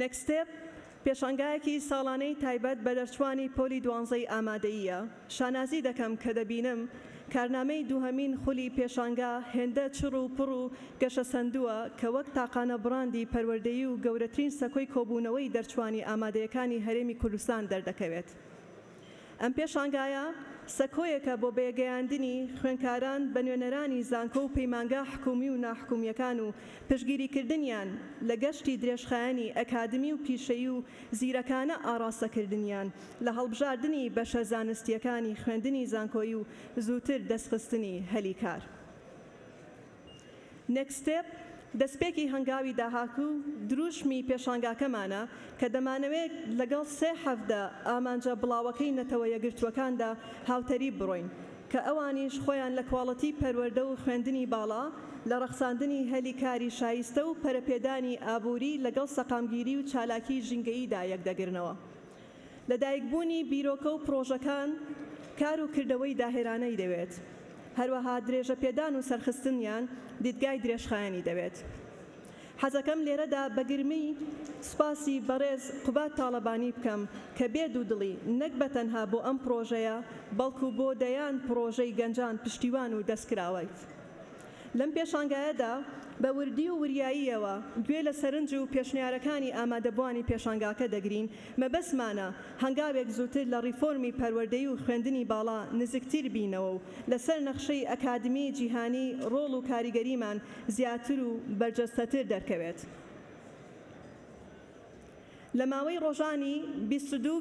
Next Step، پێشانگایەکی ساڵانەی تایبەت بە دەرچوانی پۆلی دوانزەی ئامادەییە، شانازی دەکەم کە دەبینم کارنامەی دووهەمین خولی پێشانگا هێندە چڕ و پڕ و گەشەسەندووە کە وەک تاقانە بڕاندی پەروەردەیی و گەورەترین سەکۆی کۆبوونەوەی دەرچوانی ئامادەیەکانی هەرێمی کوردستان دەردەکەوێت. ئەم پێشانگایە سەکۆیەکە بۆ بەیەکگەیاندنی خوێندکاران بە نوێنەرانی زانکۆ و پەیمانگا حکوومی و ناحکوومییەکان و پشتگیریکردنیان لە گەشتی درێژخایەنی ئەکادمی و پیشەیی و زیرەکانە ئاڕاستەکردنیان لە هەڵبژاردنی بەشە زانستییەکانی خوێندنی زانکۆیی و زووتر دەستخستنی هەلی کار. Next Step، دەستپێکی هەنگاوی داهاتوو و دروشمی پێشانگاکەمانە کە دەمانەوێت لەگەڵ سێ حەڤدە ئامانجە بڵاوەکەی نەتەوە یەکگرتووەکاندا هاوتەریب بڕۆین کە ئەوانیش خۆیان لە کواڵیتی پەروەردە و خوێندنی باڵا، لە ڕەخساندنی هەلی کاری شایستە و پەرەپێدانی ئابووری لەگەڵ سەقامگیری و چالاکیی ژینگەییدا یەکدەگرنەوە. لەدایکبوونی بیرۆکە و پڕۆژەکان کار و کردەوەی داهێرانەی دەوێت، هەروەها درێژەپێدان و سەرخستنیان دیدگای درێژخایەنی دەوێت. حەزەکەم لێرەدا بە گرمی سوپاسی بەڕێز قوباد تاڵەبانی بکەم کە بێ دوودڵی نەک بە تەنها بۆ ئەم پڕۆژەیە بەڵکو بۆ دەیان پڕۆژەی گەنجان پشتیوان و دەستکراوەیت. لەم پێشانگایەدا بە وردی و وریاییەوە گوێ لە سەرنج و پێشنیارەکانی ئامادەبوانی پێشانگاکە دەگرین، مەبەستمانە هەنگاوێک زووتر لە ڕیفۆرمی پەروەردەی و خوێندنی باڵا نزکتیر بینەوە و لەسەر نەخشەی ئەکادمیی جیهانی ڕۆڵ و کاریگەریمان زیاتر و بەرجەستەتر دەرکەوێت. لە ماوەی ڕۆژانی بیست و دوو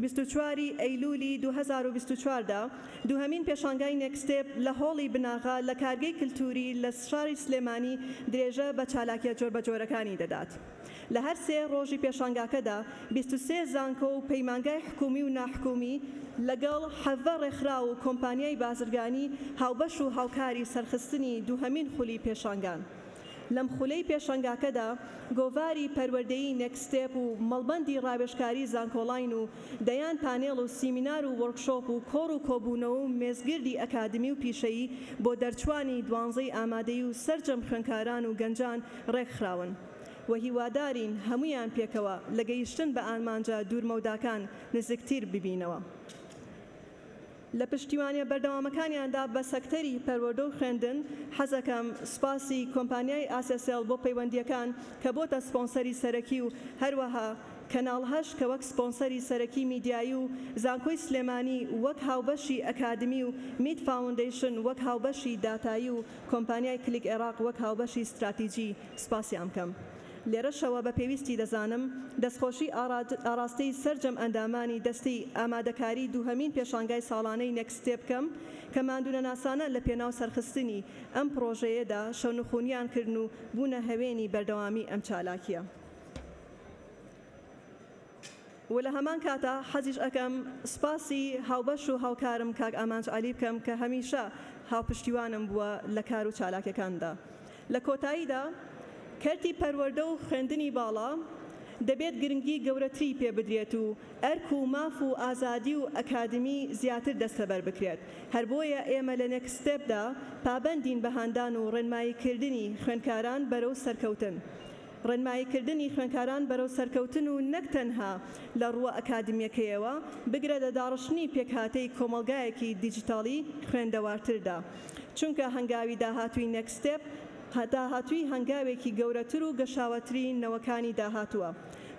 بیست و چوار ی ئەیلوولی دوو هەزار و بیست و چوار دا، دووهەمین پێشانگای نێکستێپ لە هۆڵی بناغە لە کارگەی کلتووری لە شاری سلێمانی درێژە بە چالاکیە جۆربەجۆرەکانی دەدات. لە هەر سێ ڕۆژی پێشانگاکەدا بیست و سێ زانکۆ و پەیمانگای حکوومی و ناحکوومی، لەگەڵ حەڤە ڕێکخراو و کۆمپانیای بازرگانی هاوبەش و هاوکاری سەرخستنی دووهەمین خولی پێشانگان. لەم خولەی پێشەنگاکەدا گۆڤاری پەروەردەیی نێکست ستێپ و مەڵبەندی ڕاوێژکاری زانکۆڵاین و دەیان پانێڵ و سیمینار و وۆرکشۆپ و کۆڕ و کۆبوونەوە و مێزگردی ئەکادمی و پیشەیی بۆ دەرچووانی دوانزەی ئامادەیی و سەرجەم خوێنکاران و گەنجان ڕێکخراون و هیوادارین هەموویان پێکەوە لە گەیشتن بە ئارمانجە دوورمەوداکان نزیکتر ببینەوە. لە پشتیوانیە بەردەوامەکانیاندا بە سەکتەری پەروەردە و خوێندن، حەزەکەم سوپاسی کۆمپانیای ئاسێسێڵ بۆ پەیوەندییەکان کە بۆتە سپۆنسەری سەرەکی و هەروەها کەناڵ هەشت کە وەک سپۆنسەری سەرەکی میدیایی و زانکۆی سلێمانی وەک هاوبەشی ئەکادمی و میت فاوندەیشن وەک هاوبەشی داتایی و کۆمپانیای کلیک عێراق وەک هاوبەشی ستراتیجی سوپاسیان بکەم. لێرەشەوە بە پێویستی دەزانم دەستخۆشی ئاڕاستەی سەرجەم ئەندامانی دەستەی ئامادەکاری دووهەمین پێشانگای ساڵانەی نێکست ستێپ بکەم کە ماندوونەناسانە لە پێناو سەرخستنی ئەم پڕۆژەیەدا شەونخوونیان کردن و بوونە هەوێنی بەردەوامی ئەم چالاکییە. و لە هەمان کاتا حەزیش ئەکەم سوپاسی هاوبەش و هاوکارم کاک ئامانج عەلی بکەم کە هەمیشە هاوپشتیوانم بووە لە کار و چالاکیەکانمدا لە کۆتاییدا کەرتی پەروەردە و خوێندنی باڵا دەبێت گرنگی گەورەتری پێ بدرێت و ئەرک و ماف و ئازادی و ئەکادمی زیاتر دەستەبەر بکرێت هەر بۆیە ئێمە لە نێکست ستێپدا پابەندین بە هاندان و ڕێنمایی کردنی خوێندکاران بەرەو سەرکەوتن ڕێنماییکردنی خوێندکاران بەرەو سەرکەوتن و نەک تەنها لە ڕووە ئەکادیمیەکەیەوە، بگرە لە داڕشتنی پێکهاتەی کۆمەڵگایەکی دیجیتاڵی خوێندەوارتردا. چونکە هەنگاوی داهاتووی Next Step داهاتووی هەنگاوێکی گەورەتر و گەشاوەتری نەوەکانی داهاتووە.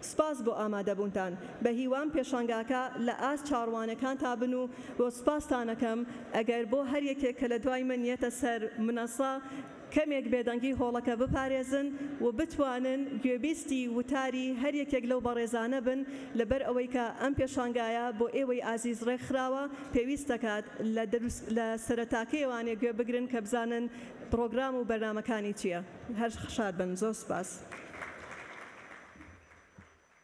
سوپاس بۆ ئامادەبوونتان. بەهیوام پێشانگاکە لە ئاست چاڕوانەکانتا بن و سوپاستانەکەم ئەگەر بۆ هەر یەکێک کە لە دوای من یەتە سەر منەسە، کەمێک بێدەنگی هۆڵەکە بپارێزن و بتوانن گوێبیستی وتاری هەر یەکێک لەو بەڕێزانە بن، لەبەر ئەوەی کە ئەم پێشانگایە بۆ ئێوەی ئازیز ڕێکخراوە، پێویست دەکات لە دروس لە سەرەتاکەیەوانێ گوێ بگرن کە بزانن پڕۆگرام و بەرنامەکانی چییە. هەر شاد بن. زۆر سوپاس.